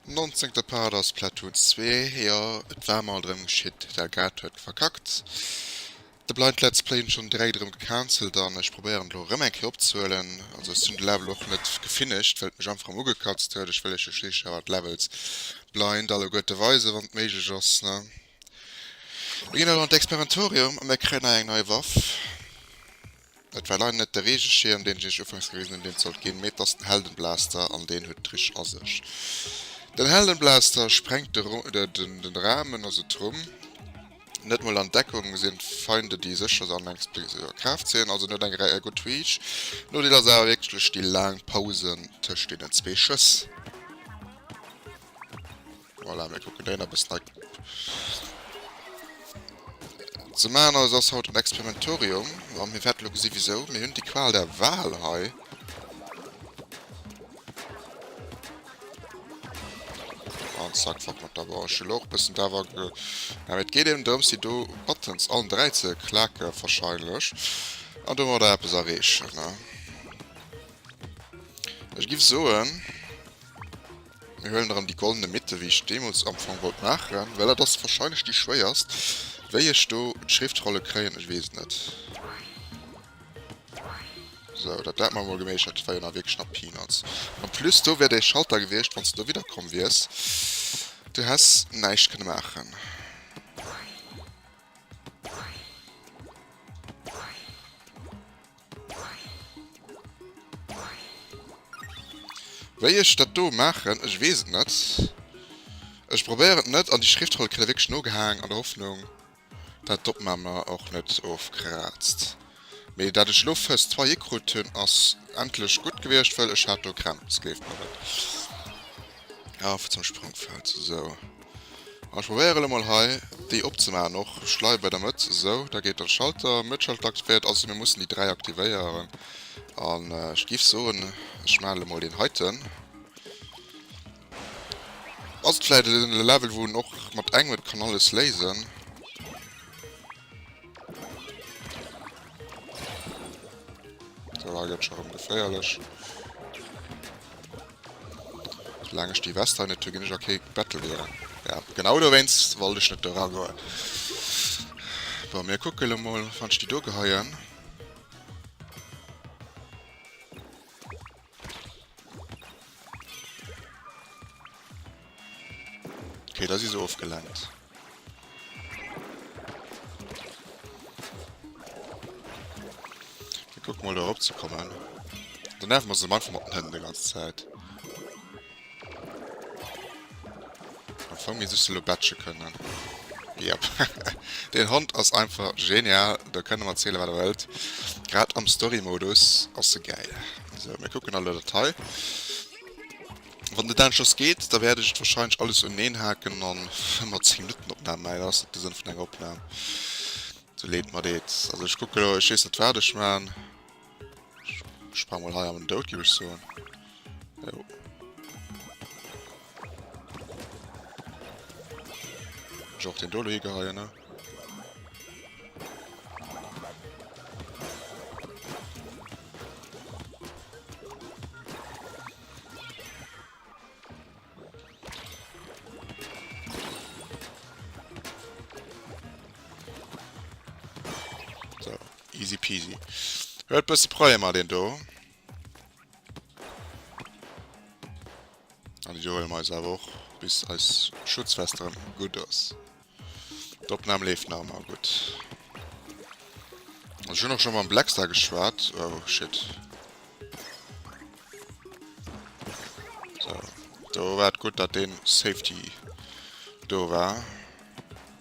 Nonzéngte Part a Splatoon 2. Jo, et war mol drëm geschitt, d'Elgato huet verkackt. De Blind Let's Play hunn ech schonn dräi drëm gecancelt an ech probéieren elo erëm eng Kéier opzehuelen. Also ech hunn de Level och net gefinished, well et mech einfach erëm ugekatzt huet. Ech wëll iech jo schliisslech awer d'Levels blind alleguerte weisen, wann et méiglech ass, ne? Mir ginn elo an d'Experimentorium a mir kréien hei eng nei Waff. Et war leider net de Reegeschierm, deen ech iech ufanks gewisen hunn, deen et sollt ginn, mee et ass den Heldenblaster an deen huet d'Trick a sech. Den Heldenblaster sprengt de den Ramen, also d'Rumm. Net mol an Deckung sinn d'Feinder, déi sécher se anengs bis a Kraaft zéien, also en huet eng Rei a gutt Reach. Nodeel ass awer wierklech déi laang Pausen tëscht deenen zwee Schëss. Voilà, mir kucken déi nach e bëssen hei ze maachen. Also ass haut en Experimentorium a mir wäerte lo gesi wisou. Mir hunn déi Qual der Wahl hei. An zack, fort mat der Wouer. Ech hunn elo och e bëssen d'Awer ge... Ja, mee et geet eben drëms, déi do Buttons allen dräi ze klaken warscheinlech. An domadder eppes erreechen, ne? Ech giff soen... Mir huelen erem déi goldene Mitte wéi ech deemols amfong wollt maachen, well dat ass wahrscheinlech déi schwéierst. Wéi ech do d'Schriftrolle kréien, ech wees et net. Sou, dat dat man mol geméichert, dat war jo nach wierklech nach Peanuts. En plus do wär dee Schalter gewiescht wanns de do widder komm wiers, du häss näischt kënne maachen. Wéi ech dat do maachen? Ech weess et net. Ech probéieren et net an déi Schriftroll kritt e wierklech nogehaang, an der Hoffnung dat d'Opnam mer och net ofkraazt. Mee dat ech elo first try hikrutt hunn ass endlech gutt gewiescht wëll ech hat do Krämp, et géif mer net. Ah fir zum Sprungfeld sou. An ech probéier elo mol hei déi opzemaachen och. Schleif bei der Mëtt sou, da geet dann Schalter, Mëttschalter aktivéiert. Also mir mussen déi 3 aktivéieren an ech giff soen ech maachen elo mol deen heiten. Ass et vläit e Level wou en och mat engem et kann alles léisen. Voilà, gëtt schon rëm geféierlech. Solange ich die Weste nicht gin ech a kee Battle goen. Ja, genau dowéinst wollt ech net dora goen. Bei mir kucke lo mol, wann ich die do geheien. Okay, da si se ofgelenkt. Guck mal da op ze kommen. Dann nerven wir se manchmal mat den Händen die ganze Zeit. Am Fong misst ech se lo batche kënnen. Yep. Deen Hond ass einfach genial, da kënnt em erzielen wat der wëllt. Grad am Story Modus ass se gäil. Sou, mir kucken elo dat hei. Wann de Dan just geet, da wäert ech et wahrscheinlech alles uneneen haken an fir mer 10 Minutten Opnam maachen. Dat ass net de Sënn vun enger Opnam, sou leed mer deet. Also ech kucke lo, ech weess net wat ech maan. Sprang mal hei am Dout gi ech soen. Jo. Ich auch den Dolo hier geheien, ne? So. Easy peasy. Huet bësse Problemer deen do. An déi do huele mer eis awer och, bis eis Schutzvest erëm gutt ass. D'Opnam leeft nach ëmmer gutt. Also ech hunn och scho mam Blackstar geschwat. Oh shit. So, do war et gutt, datt dee Safety do war.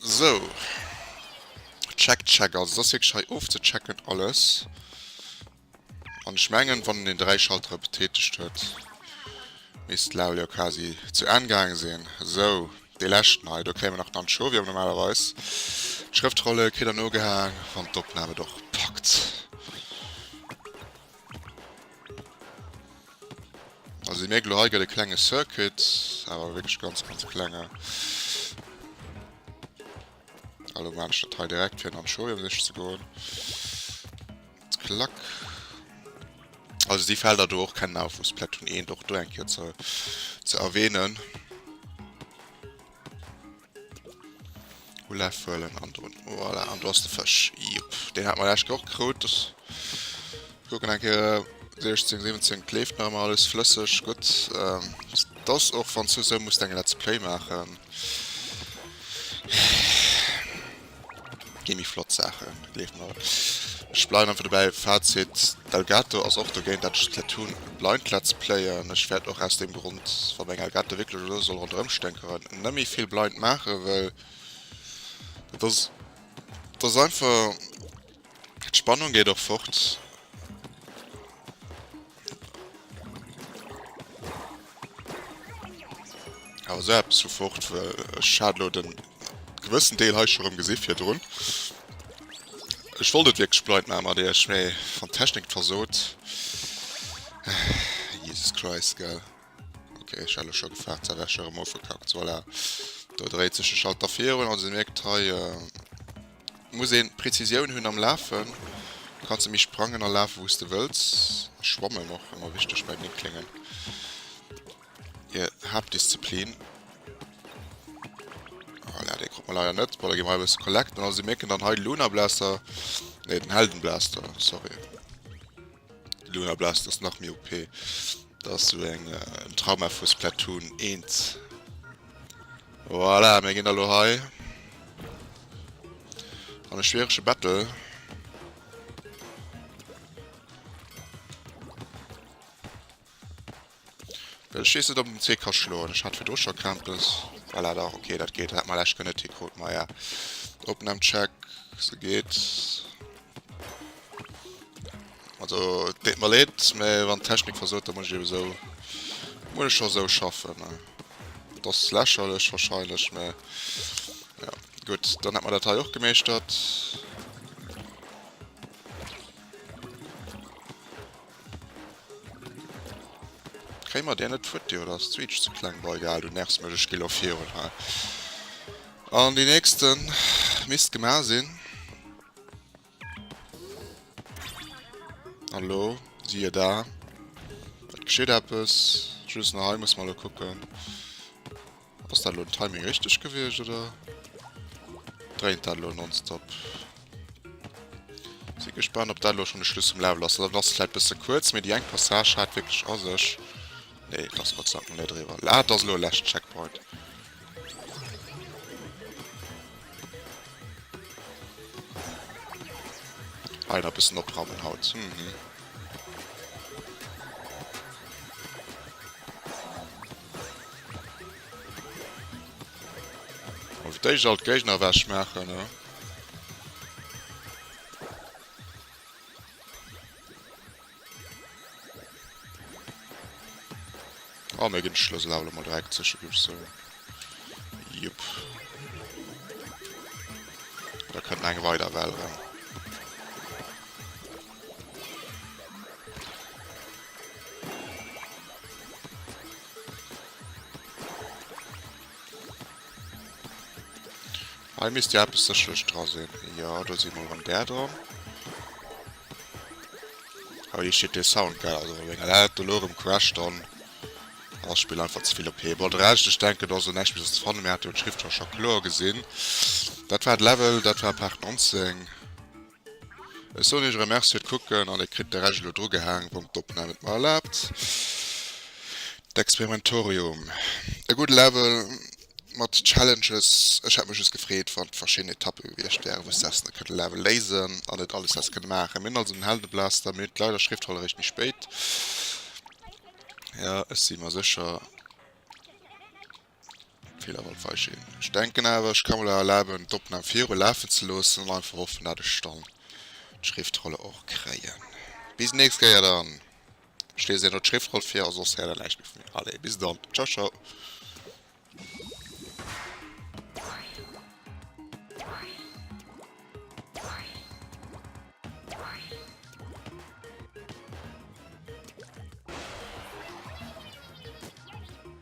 Sou, check check, also et ass wierklech hei ofzechecken alles an ech mengen wann en déi 3 Schaltere betätegt huet misst d'Laul jo quasi zu Enn gaange sinn. Sou, dee leschten hei, do kréie mer nach d'Anchovie, awer normalerweis d'Schrëftrolle kritt en ugehaang wann d'Opnam et och packt. Also déi mierkt elo hei gëtt e klenge Circuit, awer wierklech ganz ganz klenge. Hallo maan ech dat hei direkt fir en Anschorium sichen ze goen. Klack. Also déi Felder do och kennen auf vu Splatoon 1 och do eng Kéier ze ze erwähnen. Olaf huelen an do. Voilà, an do ass de Fësch. Jupp, deen hat mer lescht Woch krut. Das kucken eng Kéier 16, 17 kleeft nach mal alles flësseg. Gutt. Ähm, das och wann du sou muss eng Let's Play maachen. Gin méi flott Saachen, gleef mer. Ech bleiwen einfach dobäi, Fazit, d'Elgato ass och dogéint dat ech et let hun, e blind let's play, an ech wärt och aus deem Grond, wa meng Elgato wierklech elo soll ronderëm sténkeren, nëmmi vill blind maachen, well et ass, et ass einfach. D'Spannung geet och fort. Awer esou eppes vu fort, well ech hat elo den gewëssen Deel hei scho rëm gesi virdrun. Ech wollt et wierklech blind maache mat iech, mee wann d'Technik et versot. Jesus Christ, gell. Ok, ech hat elo scho gefaart, dat wär scho rëm ofgekackt. Voilà, do dréit sech de Schalter virun, also mierkt hei. Muss een Präzisioun hunn am Lafen. Du kanns emmi sprangen a lafen wous de wëlls. Schwammen och emmer wichteg bei den Kléngen, hier Haaptdisziplin. Voilà, dee krut mer leider net. Bon, da gi mer hei e bësse collecten. Also, si mierken dann hei de Lunablaster, nee den Heldenblaster, sorry. Luna Blast ass nach méi OP. Dat ass sou eng en Trauma vu Splatoon 1. Voilà, mir ginn da lo hei an e schwierege Battle. Ech wees net op en zwee ka schloen, ech hat virdru scho Krämpes. Voilà dach ok dat geet, hat mer lech genëtt hi krut maja Opnahm check se geet. Also et deet mer leed mä wann Technik versoot da muss ech eben esou muss ech scho esou schaffen ne. Et ass lächerlech wahrscheinlech mä jo gutt dann hätt mer dat hei och gemeeschtert. Kréie mer där net d'Futti oder ass d'Switch ze kleng? Bon egal, du nervs mech, ech gi lo virun hei. An déi nächste misst gemaach sinn. An elo, siehe da, et geschitt eppes. Just nach hei muss mer elo kucken. Ass dat elo Timing richteg gewiescht oder dréint dat elo nonstop? Si gespannt op dat elo schon de Schluss vum Level ass. Dat ass vläit bësse kuerz, mee déi eng Passage hat wierklech a sech. Nee, et ass Gottseidank mol net eriwwer. Ah, et ass elo e leschten Checkpoint. Hei nach bëssen oprammen haut. Mhm. Fir d'éischt all d'Géigner ewech maachen. A mir ginn de Schlëssel awer elo mol direkt sécher, géif ech soen. Jep. Da kënnt nach eng weider Well eran. Hei misst jo eppes sécherlech dra sinn. Jo, do si mol rëm där dran. Oh, hei steet dee Sound gäil. Also, wéi dat dat elo erëm crasht, dann ass d'Spill einfach ze vill OP. Bon, de Rescht, ech denken, do ass elo näischt Méi sos ze fannen. Mir hate jo d'Schriftrocher kloer gesinn. Dat war de Level, dat war Part 19. Ech soen iech erëm Merci fir d'Kucken an dir kritt de Rescht elo drugehaang, wann d'Opnahm et mer erlaabt. D'Experimentorium, e gudde Level mat Challenges. Ech hätt mech just gefreet, wann verschidden Etappe gewiescht wären, wou s de essen kënnt level léisen an net alles häss kënne maachen. Mir hunn also den Heldenblaster, mir hunn d'Leider Schriftroll eréischt méi spéit. Jo, ech si mer sécher. Federwald war schéin. Ech denken awer ech ka mer lo erlaben d'Opnahm viru lafen ze loossen an einfach hoffen dat ech dann d'Schriftrolle och kréien. Bis nächst Kéier dann. Ech liesen elo d'Schriftroll vir a soss häert der näischt méi vu mir. Allez bis dann. Ciao ciao.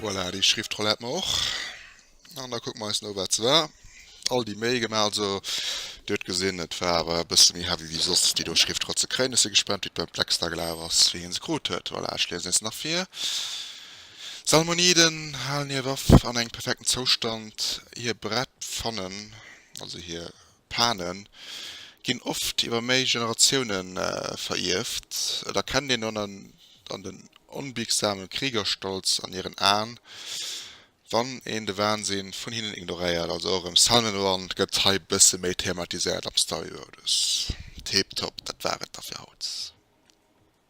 Voilà, déi Schriftroll hätt mer och. An da kucke mer eis no, wat se war. All déi Méi gemaach, also Dir huet gesinn, et war awer e bësse méi heavy wéi soss, déi do Schriftroll ze kréien. Ech si gespannt, wéi d'Mme Plex da gelaf ass, wéi hie se krut huet. Voilà, ech liesen eis nach vir. D'Salmoniden halen hir Waff an engem perfekten Zoustand. Hir Brett fannen, also hir. Pane ginn oft iwwer méi Generatioune verierft. Et erkennt een dann an den onbiegsame Kriegerstolz an hiren Aen, wann een de Wahnsinn vun hinnen ignoréiert. Also och e Salmon-Run gëtt hei bësse méi thematiséiert am Story-Modus. Tip-top, dat war et da fir haut.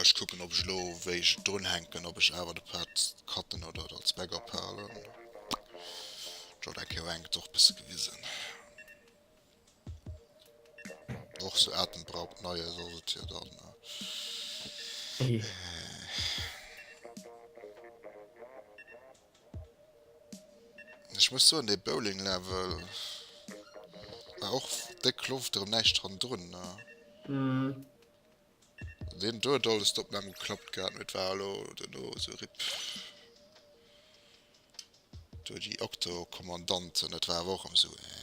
Ech kucken op ech elo wéi ech et drun hänken op ech awer de Pad cutten oder et als Backup halen. Jo dat Kéier enk et och besse gewisen. Och sou atemberaubt nei ass ass et jo dann. Ech muss soen dee Bowling Level war och déck Loft erem näischt randrun ne. Wem do et alles dop Mamm geklappt gehaat huet war elo dono sou rip. Do déi Okto Kommandanten dat war awer och rem sou eh.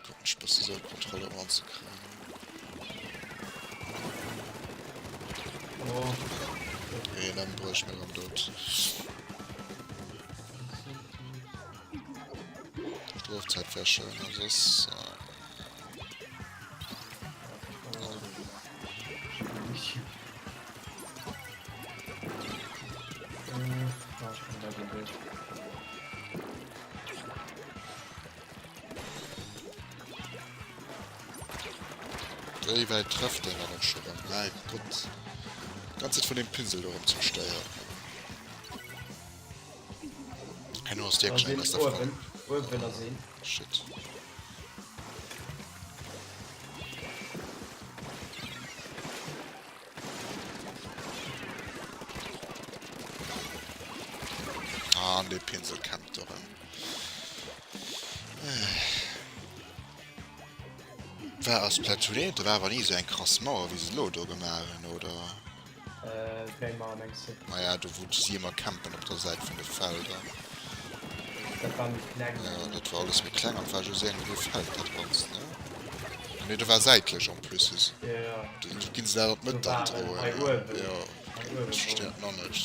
Probieren ech bessi sou d'Kontroll erëm an ze kréien. Nee dann brauch ech meng am Doud. Strofzäit wär schön a soss. Wéi wäit trëfft deen dann och scho rëm? Mäi Gott! D'ganz Zäit vun deem Pinsel do rëm ze bestéieren. Herno ass déi Kleng aus der Fong. Oh shit. An dee Pinsel kämmt do rëm. War ass Platoon 1, da war awer ni esou eng krass Mauer, wéi se elo do gemaach hunn, oder? Äh, wéi Mauer mengs du? Naja, do wou si ëmmer campen op der Säit vun de Felder. Dat war méi kleng. Ja, dat war alles méi kleng an et war just iergendwéi e Feld dat Ganzt, ne? Ah nee, do war säitlech en plus. Ja. Do ginn se dat an d'Mëtt dann droen. Hei uewen. Ja, okay, ech verstinn et nach net.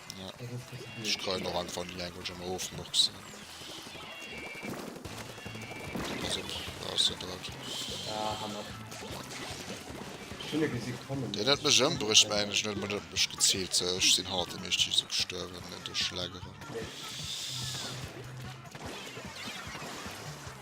Ech kreien och einfach nie eng Wënsch an der Ofmurks. Deen huet mech ëmbruecht, mä ech net mat op mech geziilt. Sou, ech sinn hannert dem Eeschtich esou gestuerwen, duerch Schlägeren.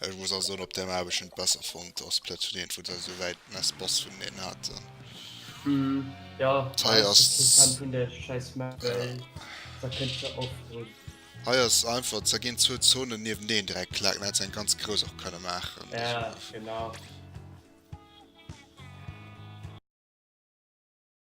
Ech muss also soen, op där Map ech en besser fonnt ass Splatoon 1, wou se esou wäit mess Spass vun denen haten. Hm, jo, hei ass interessant vun der scheiss Map, well da kënnt se oft drun. Hei ass einfach, da ginn zwou Zonen nieweneen direkt klacken, da hätt se eng ganz grouss och kënne maachen. Ja, genau.